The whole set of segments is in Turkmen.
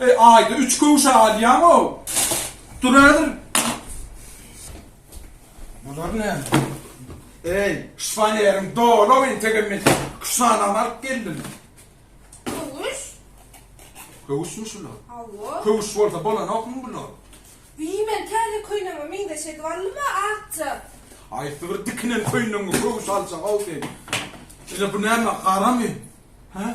Eý aýda üç köwşe alýaňow. Dur häzir. Bular näme? Eý, şpaneriň dola we integirme küşanany alyp geldim. Köwüş? Köwüşmi şular? Hawa. Köwüş bolsa bolanokmy bular? Wiý, men täze köýnegime meňzeş edip aldyma, akja. Haýsy bir dikinen köýnegiňe köwüş aljak-ow sen? Ine bu näme, garamy? Hä?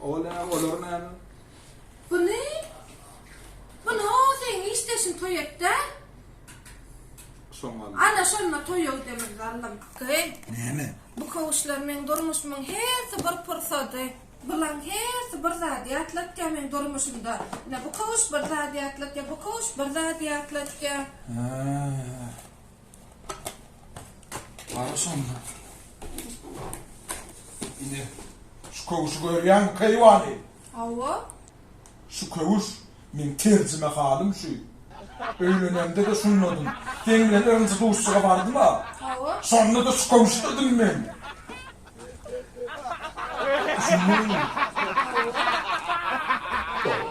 Ol näme, olar näme? Buny? Buny o seň işdeşin toy etdä? Şoňa. Ana şonda toy ol demir zallym. Gyn. Näme? Bu kowuşlar men durmuşymyň hersi bir pursady. Bulan hersi bir zady ýatlatýa men durmuşymda. Ne bu kowuş bir zady ýatlatýa, bu kowuş bir zady ýatlatýa. Ha. Ara şonda. Ine, şu köwüşi görýäňmi, keýwany? Hawa. Şu köwüş, meň terjime halym şu. Öýlenemde-de şundadym. Seň bilen birinji duşuşyga bardym-a. Hawa. Şonda-da şu köwüşdedin men. Düşündiňmi? Hawa.